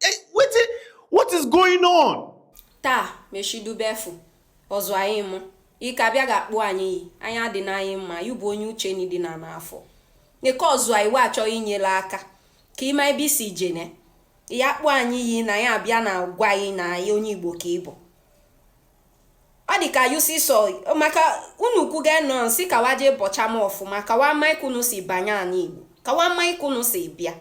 Eh, wetin what is going on? taa mechidube efu ọzụ anyị mụ ike abịa ga-akpọ anyị iyi anyị adị n'anyị mma yu bụ onye uche ni dị na n'afọ nke ọzụ anyị wee achọghị inyere aka ka ị ma ebe i si jene ya kpọ anyị iyi na ya abịa na-agwa anyị na anyị onye igbo ka ị bụ ọ dị ka yu sị sọ maka unu kwuga nọ sị ka wa jee bọcha m ọfụma ka wa ma ka unu si banye anị igbo ka wa ma ka unu si bịa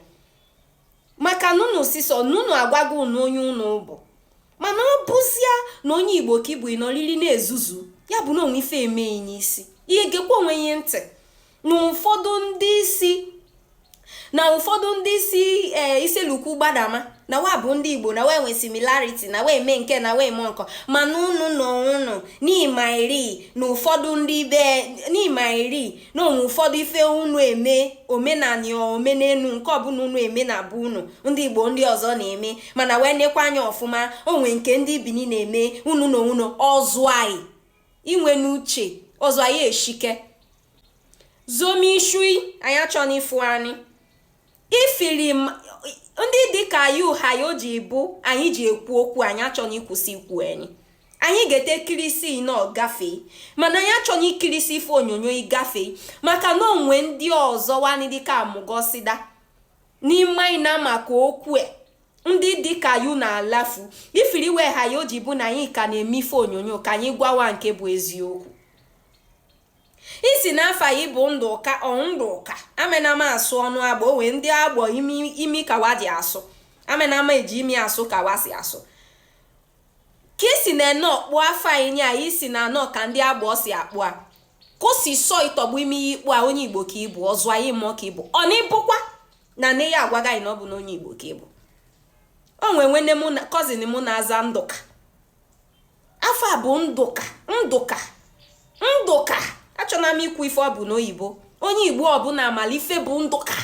maka na unu sị sọ nna unu agwago unu onye unu bụ mana ọ bụzia na onye igbo ka ị bụ ị nọrịrị na-ezuzu ya bụ na o nwe ife eme ị n'isi i gekwa onwe i ntị na ụfọdụ ndị isi na ụfọdụ ndị isi ee eh, Issele-Uku gbadama na wa bụ ndị igbo na wa enwe similarity na wa eme nke na wa eme nke ọ mana unu na unu n'ịma iri na ụfọdụ ndị be n'ịma iri na o nwe ụfọdụ ife unu eme omenani omenelu nke ọbụla unu eme na abụ unu ndị igbo ndị ọzọ na-eme mana wee nekwa anya ọfụma o nwe nke ndị bini na-eme unu na unu ọzụ anyị i nwene uche ọzụ anyị eshike zome ishu i anyị achọni ịfụ anyị ifiri ndị dịka yu ha ya o ji bụ anyị ji ekwu okwu anyị achọni ịkwụsị ikwu anyị anyị ga-ete kirisi nọ gafee mana anyị achọni ikirisi ife onyonyo i gafee maka na o nwe ndị ọzọ wa ni dịka amụgọsida n'ime anyị na maka okwu e, ndị dịka yu na-alafu ifiri we ha ya o ji bụ na anyị ka na-eme ife onyonyo ka anyị gwa wa nke bụ eziokwu ị sị na afa yi bụ ndụka ọ ndụka amenama asụ ọnụ agbọ o nwe ndị agbọ imi imi ka wa ji asụ amenama eji imi asụ ka wa si asụ ka i si na ene ọkpọ afa yi a i si na anọ ka ndị agbọ si akpọ a ka o si sọ ị tọgbu imi ị kpọ a onye igbo ka ị bụ ọzụ anyị mmụọ ka ị bụ ọ na ịbụkwa na nne yi agwaga anyị na ọ bụ na onye igbo ka ị bụ o nwee nwanne mụ na cousin mụ na-aza ndụka afa bụ ndụka ndụka ndụka achọna m ikwu ife ọ bụ n'oyibo onye igbo ọbụla amala ife bụ ndụka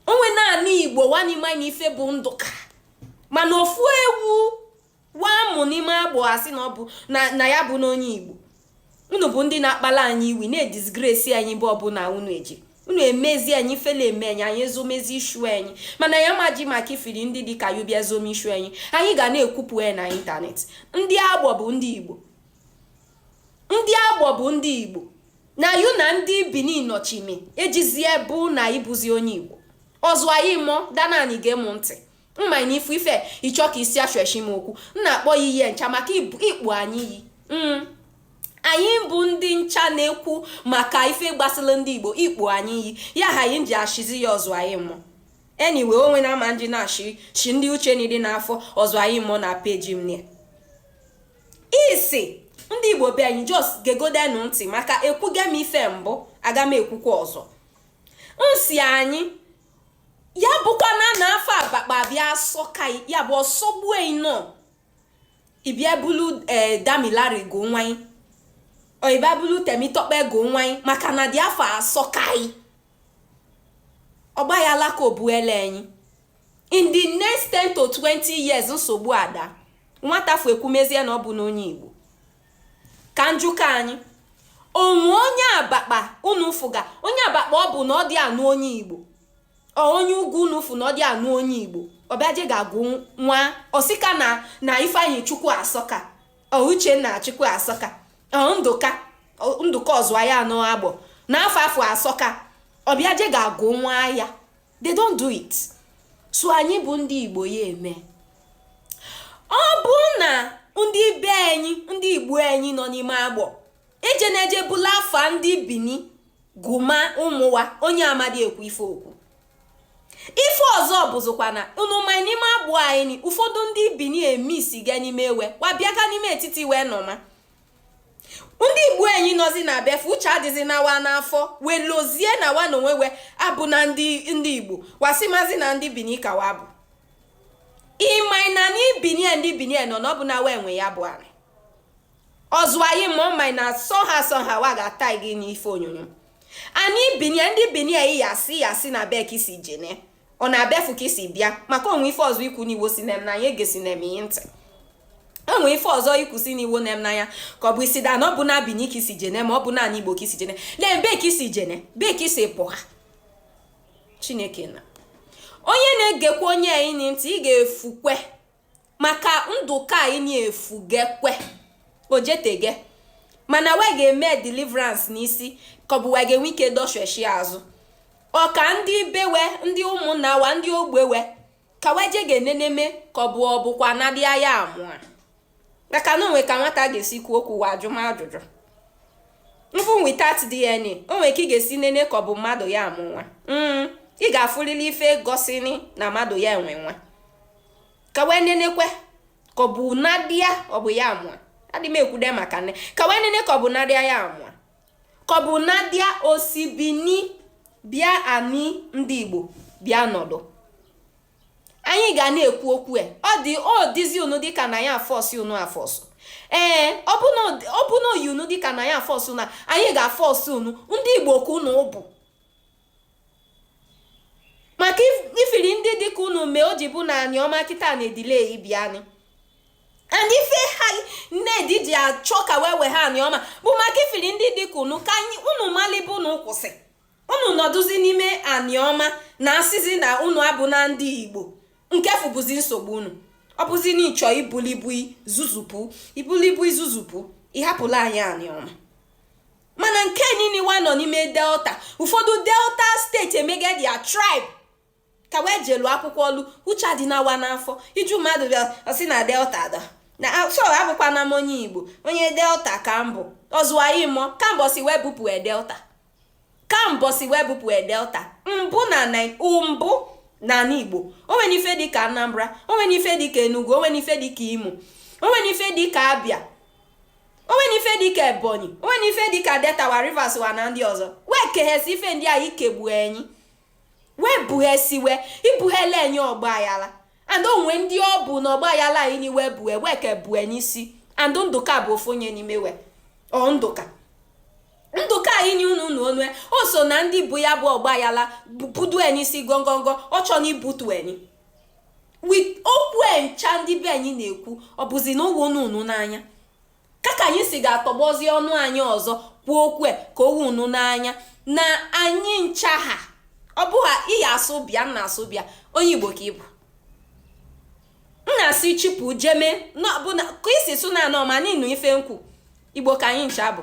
o nwena anị igbo wa ni ma na ife bụ ndụka mana ofu ewu wa mụ n'ime agbọ asị na ọ bụ na ya bụna onye igbo unu bụ ndị na-akpala anyị iwi na-edisgresi anyị ebe ọbụla unu eje unu emezi anyị ifele eme anyị anyị ezomezi ishu anyị mana ya maji maka ifiri ndị dị ka yu bịa zome ishu anyị anyị ga na-ekwupụ ya na ịntanetị ndị agbọ bụ ndị igbo ndị agbọ bụ ndị igbo na yu na ndị bini nọchime ejizie bụ na ị bụzi onye igbo ọzụ anyị mụọ danani gee mụ ntị Mma ị n'ifu ife ịchọ ka isi achọchi m okwu m na-akpọ ya ihe ncha maka ikpu anyị yi mm. anyị bụ ndị ncha na-ekwu maka ife gbasara ndị Igbo ikpu anyị yi ya ha anyị ji achịzi ya ọzụ anyị mụ anyway o nwe na ama ndị na-achị chi ndị uche na ịdị n'afọ ọzụ anyị mụ na peji m na isi ndị Igbo be anyị just gegodenụ ntị maka ekwuga m ife mbụ aga m ekwukwa ọzọ nsi anyị ya bụkwa na na afa abakpa bịa asọka ị ya bụ ọ sọgbuo ị nọ ị bịa bulu ee eh, damilare gụ nwa ị or ị bịa bulu temitope gụ nwa ị maka na dị afa asọka ị ọgba ya alaka obuele anyị in the next 10 to 20 years nsogbu ada nwata fu ekwumezie na ọ bụ n'onye igbo ka n jụka anyị o nwe onye abakpa unu fụga onye abakpa ọ bụ na ọ dị anụ onye igbo or onye ugwu unu fụ na ọ dị anụ onye igbo ọ bịa je ga-agụ nwa ọ sị ka na na ifeanyịchukwu asọka or uchenna chukwu asọka ndụka ndụka ọzụwa ya anọ agbọ na afa afụ asọka ọ bịa je ga-agụ nwa ya they don't do it so anyị bụ ndị igbo ya eme ọ bụ na ndị be anyị ndị igbo anyị nọ n'ime agbọ eje na-eje bulu afa ndị bini gụma ụmụ wa onye amadi ekwu ife okwu ife ọzọ bụzikwa na unu ma n'ime agbọ anyị ụfọdụ ndị bini eme isi ga n'ime ewe wabịaga n'ime etiti wee nọma ndị igbo anyị nọzi na ebe afụ uche adịzi na wa n'afọ wee lozie na wa na onwe we abụna ndị ndị igbo wa sịmazi na ndị bini ka wa bụ ị ma na n'ibinie ndị binie nọ na ọ bụ na wa nwe ya bụ anị ọzụ anyị ma ọ ma na sọ ha sọ ha wa ga-ata gị n'ife onyonyo anyị binie ndị binie yi ya sị ya sị na be ka i si jene or na ebe afụ ka i si bịa maka o nwe ife ọzọ ikwu n'iwo si na na ya egesi na eme ihe ntị o nwe ife ọzọ ikwusi n'iwo na na ya ka ọ bụ isi da na ọ bụ na bini ka i si jene ma ọ bụ n'anị igbo ka i si jene lee be ka i si jene be ka i si pụha chineke na onye na-egekwa onye anyị ntị ị ga-efukwe maka ndụka anyị efugekwe o jetege mana we ga-eme deliverance n'isi ka ọ bụ we ga-enwe ike dọsheshi azụ or ka ndị be we ndị ụmụnna wa ndị ogbe we ka we je ga-eneneme ka ọ bụ ọ bụkwa na dị aya amụa maka na o nwe ka nwata ga-esi kwuo okwu wa ajụma ajụjụ even without DNA o nwe ka ị ga-esi nene ka ọ bụ mmadụ ya amụ nwa mm, ị ga-afụlịlị ife gosini na mmadụ ya enwe nwa ka wee nenekwe ka ọ bụ nadi a ọ bụ ya mụ a adị m ekwude maka nne ka wee nene ka ọ bụ nadi a ya mụ a ka ọ bụ nadi a o si bini bịa ani ndị igbo bịa nọdụ anyị ga na-ekwu okwu e ọ dị ọ dịzi unu dịka na ya a-force unu a-force ee ọ bụ na o yi unu dịka na ya a-force na anyị ga-force unu ndị igbo ka unu bụ maka ifiri ndị dịka unu mee o ji bụ na anioma kịta na-edelay ịbịanị and ife ha ned ji achọ ka wee wee ha anioma bụ maka ifiri ndị dịka unu ka unu mali ebe unu kwụsị unu nọdụzi n'ime anioma na-asịzi na unu abụna ndị igbo nke fụ bụzi nsogbu unu ọ bụzi na ị chọ i bulu ibu i zuzupụ i bulu ibu i zuzupụ ị hapụla anyị anioma mana nke niile wa nọ n'ime delta ụfọdụ delta state emega their tribe ka wee jelu akwụkwọ ọlụ uche adịna wa n'afọ ị jụ mmadụ bịa ọ sị na delta dọ na so abụkwana m onye igbo onye delta ka m bụ ọzụwaghị mọ ka mbọsị wee bupụ delta ka mbọsị wee bupụ delta mbụ na mbụ n'ala igbo o nwena ife dịka anambra o nwena ife dịka enugu o nwena ife dịka imo o nwena ife dịka abia o nwena ife dịka ebonyi o nwena ife dịka delta wa rivers wa na ndị ọzọ wee keghesi ife ndị a ikegbu enyi wee bughesiwe ibughele enyi ọgbaghala and o nwe ndị ọ bụ na ọgbaghala anyị niwe bue wee ke bue n'isi and ndụka bụ ofu onye n'ime we ọ ndụka ndụka anyị nye unu nụ ọnụ e o so na ndị bu ya bụ ọgbaghala budu e n'isi gongongo ọ chọna ibutu enyi with okwu e ncha ndị be anyị na-ekwu ọ bụzi na o wu unu unu n'anya ka ka anyị si ga-atọgbọzi ọnụ ani ọzọ kwuo okwu e, ka o wu unu n'anya na anyị ncha ha ọ bụ ha iyi asụ bịa m na-asụ bịa onye igbo ka ị bụ m na-asị chipụ jeme ka i si sụ na anioma n'ị nụ ife m kwu igbo ka anyị ncha bụ